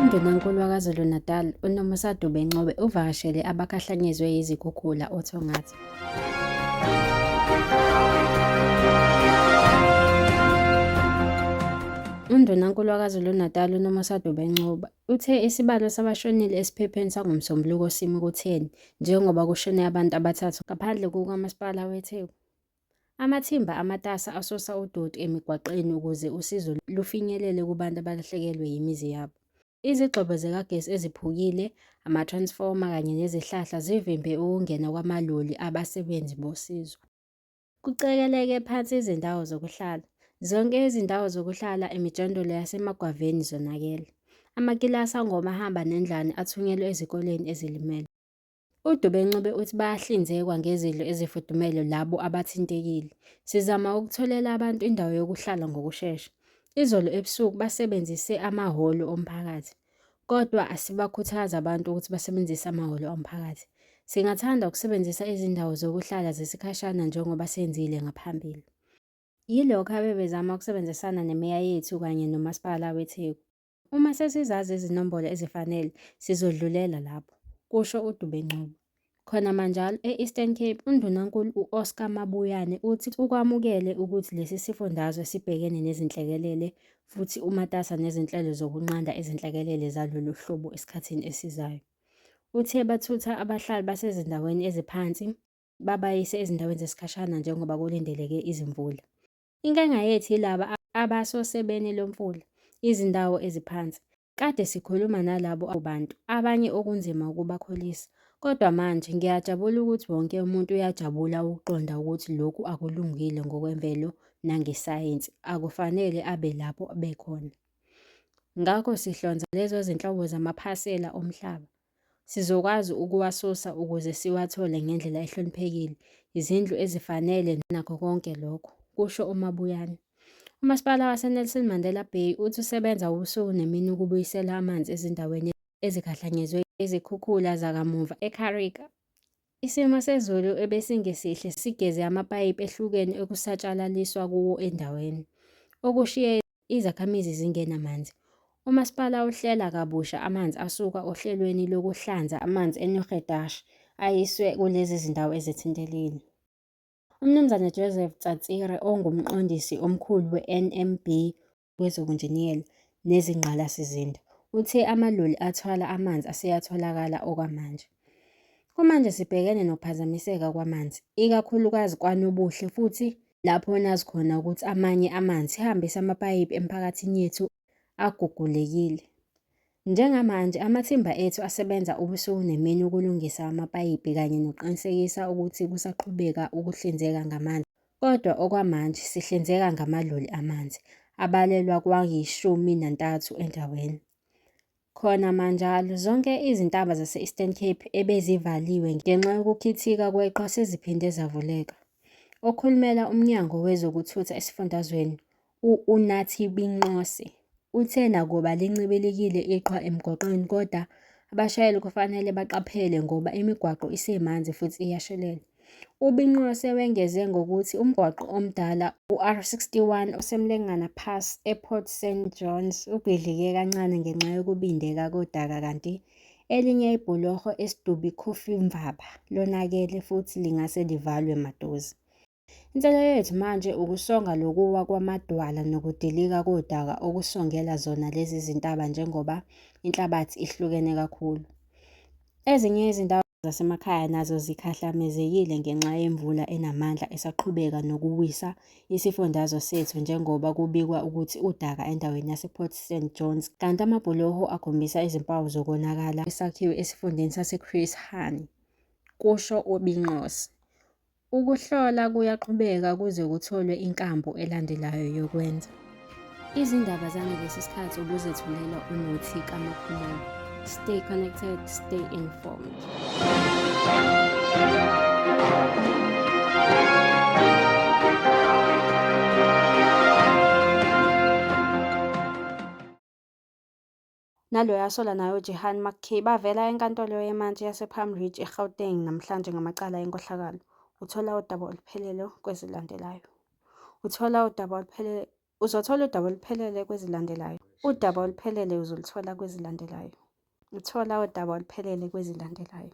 UNdunankulu waKwaZulu-Natal uNomusa Dube Ncube uvakashele abakhahlanyezwe yizikhukhula oThongathi. UNdunankulu waKwaZulu-Natal uNomusa Dube Ncube Uthe isibalo sabashonile esiphepheni sangoMsombuluko simi kutheni njengoba kushone abantu abathathu ngaphandle kukaMasipala weTheku. Amathimba amatasa asosa udoti emigwaqeni ukuze usizo lufinyelele kubantu abalahlekelwe yimizi yabo. Izigxobo zikagesi eziphukile, amatransfoma kanye nezihlahla zivimbe ukungena kwamaloli abasebenzi bosizo. Kucekeleke phansi izindawo zokuhlala. Zonke izindawo zokuhlala emijondolo yasemagwaveni zonakele. Amakilasi angomahamba nendlwane athunyelwe ezikoleni ezilimele. UDubenqube uthi bayahlinzekwa ngezidlo ezifudumele labo abathintekile. Sizama ukutholela abantu indawo yokuhlala ngokushesha. Izolo ebusuku basebenzise amahholo omphakathi. Kodwa asibakhuthazi abantu ukuthi basebenzise amahholo omphakathi. Singathanda ukusebenzisa izindawo zokuhlala zesikhashana njengoba senzile ngaphambili. Yilokho abebezama ukusebenzisana nemeya yethu kanye nomasipala weTheku. Uma sesizazi izinombolo ezifanele, sizodlulela lapho, kusho uDube-Ncube. Khona manjalo e-Eastern Cape uNdunankulu u-Oscar Mabuyane uthi ukwamukele ukuthi lesi sifundazwe sibhekene nezinhlekelele futhi umatasa nezinhlelo zokunqanda izinhlekelele zalolu hlobo esikhathini esizayo. Uthe bathutha abahlali basezindaweni eziphansi babayise ezindaweni zesikhashana njengoba kulindeleke izimvula. Inkinga yethu yilaba abasosebeni lomfula, izindawo eziphansi. Kade sikhuluma nalabo bantu, abanye okunzima ukubakholisa. Kodwa manje ngiyajabula ukuthi wonke umuntu uyajabula ukuqonda ukuthi lokhu akulungile ngokwemvelo nangesayensi, akufanele abe lapho bekhona. Ngakho sihlonza lezo zinhlobo zamaphasela omhlaba. Sizokwazi ukuwasusa ukuze siwathole ngendlela ehloniphekile, izindlu ezifanele nakho konke lokho, kusho uMabuyane. UMasipala waseNelson Mandela Bay uthi usebenza ubusuku nemini ukubuyisela amanzi ezindaweni ezikhahlanyezwe izikhukhula zakamuva eKarika. Isimo sezulu ebesingesihle sigeze amapayipi ehlukene okusatshalaliswa kuwo endaweni, okushiye izakhamizi zingena amanzi. Umasipala uhlela kabusha amanzi asuka ohlelweni lokuhlanza amanzi eNurgedash ayiswe kulezi zindawo ezithintelile. UMnumzane Joseph Tsatsire ongumqondisi omkhulu we-NMB wezobunjiniyela nezingqalasizinda, uthe amaloli athwala amanzi aseyatholakala okwamanje. Kumanje sibhekene nokuphazamiseka kwamanzi, ikakhulukazi kwanobuhle futhi lapho nazi khona ukuthi amanye amanzi sihambisa amapayipi emphakathini yethu agugulekile. Njengamanje amathimba ethu asebenza ubusuku nemini ukulungisa amapayipi kanye nokuqinisekisa ukuthi kusaqhubeka ukuhlinzeka ngamanzi, kodwa okwamanje sihlinzeka ngamaloli amanzi abalelwa kwayishumi nantathu endaweni. Khona manjalo, zonke izintaba zase-Eastern Cape ebezivaliwe ngenxa yokukhithika kweqhwa seziphinde zavuleka. Okhulumela uMnyango wezokuThutha esifundazweni, U-Unathi Binqose uthe nakuba lincibilikile iqhwa emgwaqweni kodwa abashayeli kufanele baqaphele ngoba imigwaqo isemanzi futhi iyashelela. UBinqose wengeze ngokuthi umgwaqo omdala uR61 oseMlengana Pass ePort St Johns ubhidlike kancane ngenxa yokubindeka kodaka kanti elinye ibhuloho eSidubi Coffee Mvaba lonakele futhi lingase livalwe maduze. Inselelo yethu manje ukusonga lokuwa kwamadwala nokudilika kodaka okusongela zona lezi zintaba njengoba inhlabathi ihlukene kakhulu. Ezinye izindawo zasemakhaya nazo zikhahlamezekile ngenxa yemvula enamandla esaqhubeka nokuwisa isifundazwe sethu njengoba kubikwa ukuthi udaka endaweni yasePort St Johns kanti amabhuloho akhombisa izimpawu zokonakala esakhiwe esifundeni saseChris Hani, kusho uBinqose. Ukuhlola kuyaqhubeka kuze kutholwe inkambu elandelayo yokwenza. Izindaba zangalesi sikhathi ubuzethulela uNuthi kaMaphumulo. Stay connected, stay informed. naloyo asola naye uJehan McKay bavela eNkantolo yeMantshi yasePalm Ridge eGauteng namhlanje ngamacala enkohlakalo. Uthola udaba oluphelele kwezilandelayo. Uthola udaba oluphelele Uzothola udaba oluphelele kwezilandelayo. Udaba oluphelele uzoluthola kwezilandelayo. Uthola udaba oluphelele kwezilandelayo.